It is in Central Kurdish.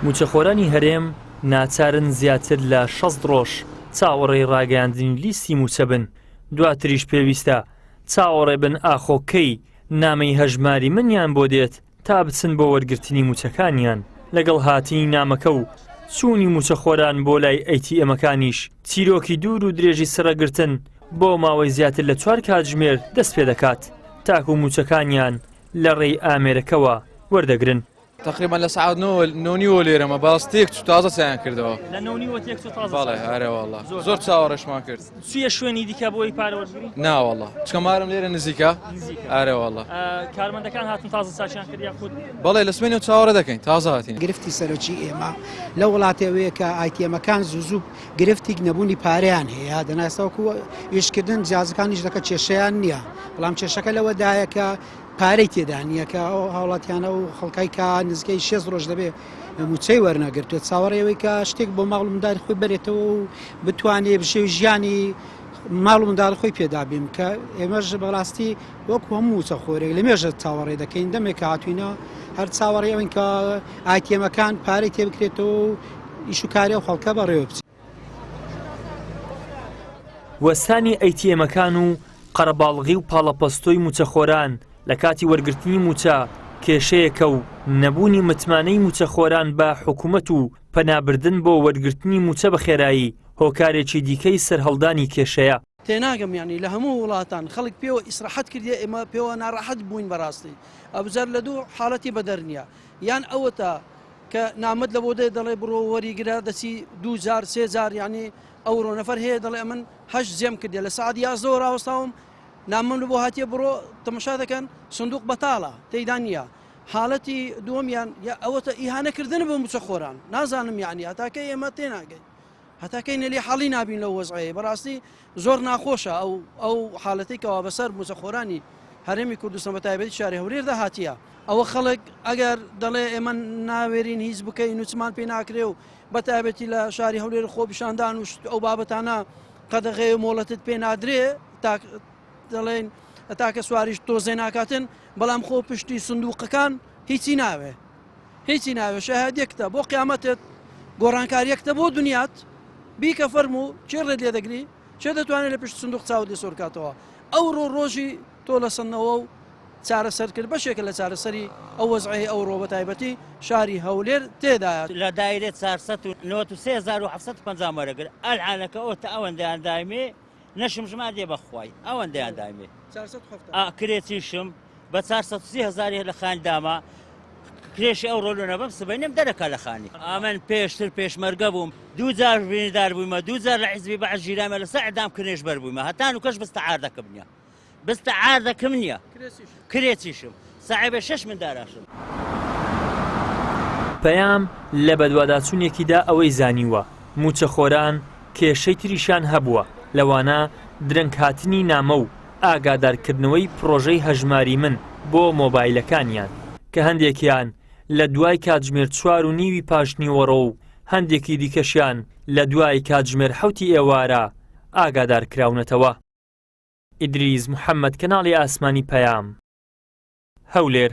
مووچەخۆرانی هەرێم ناچارن زیاتر لە شەست ڕۆژ چاوەڕێی ڕاگەیاندنی لیستی مووچە بن، دواتریش پێویستە چاوەڕێ بن ئاخۆ کەی نامەی هەژماری منیان بۆ دێت تا بچن بۆ وەرگرتنی مووچەکانیان، لەگەڵ هاتنی نامەکە و چوونی مووچەخۆران بۆ لای ئەیتیئێمەکانیش چیرۆکی دوور و درێژی سڕگرتن بۆ ماوەی زیاتر لە چوار کاتژمێر دەست پێدەکات تاکوو مووچەکانیان لە ڕێی ئامێرەکەوە وەردەگرن. تقریبا لە سعات نۆنیوە لێرەمە باس تێک چ تازە سیان کردەوە زۆر چاوەڕێشمان کرد سوە شوێنی دیکە بۆی پارەوە ناوەڵە چکەمارم لێرە نزیکە ئارەوەڵە کارمەندەکان هاتن تازە ساچیان کرد خود بەڵێ لە سوێنی چاوەڕە دەکەین تازاتی گرفتی سەرۆکی ئێمە لە وڵاتەوەیە کە ئایتەمەکان زوزوب گرفتیک نەبوونی پارەیان هەیە دەنا ساوکو ئیشکردن جیازەکانیش دەکە کێشیان نییە بەڵام کێشەکە لەوەدایە کە پارەی تێدانیەکە ئەو هاوڵاتیانە و خەڵکای کا نزگەی شێز ڕۆژ دەبێت موچەی وەرنەگرتوێت چاوەڕێەوەی کە شتێک بۆ ماڵ منداری خۆی بێتەوە و بتوانێت بشێوی ژیانی ماڵ منداڵ خۆی پێدابیم کە ئێمەش بەڕاستی وەکو هەموو موچەخۆرێک لە مێژە چاوەڕێ دەکەین دەمێک کە هاتوینە هەر چاوەڕێ ئەوین کە ئایتێمەکان پارەی تێ بکرێتەوە و ئیشوکاری و خەڵکە بەڕێوە بچێت. وەستانی ئەیتیێمەکان و قەرەباڵغی و پاڵەپەستۆی موچەخۆران لە کاتی وەرگرتنی موچە کێشەیەکە و نەبوونی متمانەی موچەخۆران بە حکومەت و پەنابردن بۆ وەرگرتنی موچە بەخێرایی هۆکارێکی دیکەی سەرهەڵدانی کێشەیە. تێناگەم یانی لە هەموو وڵاتان خەڵک پێوە ئیسرەحەت کردیە ئێمە پێوە ناڕەحەت بووین بەڕاستی ئەبجار لە دوو حاڵەتی بەدەر نیە یان ئەوەتا کە نامەت لە بۆ دێ دەڵێ بڕۆ وەریگرە دەچی دوو جار سێ جار یانی ئەوڕۆ نەفەر هەیە دەڵێ من هەش جێم کردێ لە سعات یازدەوە ڕاوەستاوم نامەم لە بۆ هاتیە بڕۆ تەمەشا دەکەن سندوق بەتاڵە تێیدا نییە حاڵەتی دووەمیان یا ئەوەتە ئیهانەکردن بۆ موچە خۆران نازانم یعنی هەتاکە ئێمە تێناگەین هەتا کەی نەلی حاڵی نابین لەو وەزعەیە بەڕاستی زۆر ناخۆشە ئەو ئەو حالەتی کەوا بەسەر موزەخۆرانی هەرێمی کوردستان بە تایبەتی شاری هەورێر داهاتە ئەوە خەڵک ئەگەر دەڵێ ئێمە ناوێرین هیچ بکەین نوچمان پێ ناکرێ و بە تایبەتی لە شاری هەولێر خۆپیشاندان و ئەو بابەتانە قەدەغێ و مۆڵەتت پێ نادرێ دەڵێن تاکە سواریش تۆزێ ناکاتن بەڵام خۆ پشتی سندوقەکان هیچی ناوێ هیچی ناوێ شەهادی یەکتە بۆ قیامەتت گۆڕانکار یەکتە بۆ دنیات بیکە فەرمو چێ ڕێت لێ دەگری چێ دەتوانێت لە پشت سندوق چاوت لێ سۆرکاتەوە ئەو ڕۆ ڕۆژی تۆ لە سندەوە و چارەسەر کرد بەشێکە لە چارەسەری ئەو وەزعی ئەو ڕۆ بە تایبەتی شاری هەولێر تێدایە لە دایرێت 493 وەرەگر ئەلعانەکە ئۆتە ئەوەندەیان دایمێ نەشم ژما دێ بەخوای ئەوەندەیان دامێ کرێچیشم بە 430 هزاری لە خان داما کرێشی ئەو ڕۆلو نەبم سبەینم دەرەکە لە خانی ئامن پێشتر پێشمەرگە بووم دوو جار بینیدار بوومە دوو جار لە حزبی بە ژیرامە لەسەر ئەدام کرێش بەر بوومە هەتان و کەش بستە ئاردەکە بنیە بس تعاردەکم نیە کرێچیشم ساحێبە شەش منداراشم. پەیام لە بەدواداچوونێکیدا ئەوەی زانیووە، مووچەخۆران کێشەی تریشیان هەبووە، لەوانە درەنگهاتنی نامە و ئاگادارکردنەوەی پڕۆژەی هەژماری من بۆ مۆبایلەکانیان، کە هەندێکیان لە دوای کاتژمێر چوار و نیوی پاشنیوەڕۆ و هەندێکی دیکەشیان لە دوای کاتژمێر حەوتی ئێوارە ئاگادارکراونەتەوە. ئیدریس محەمەد کەناڵی ئاسمانی پەیام هەولێر.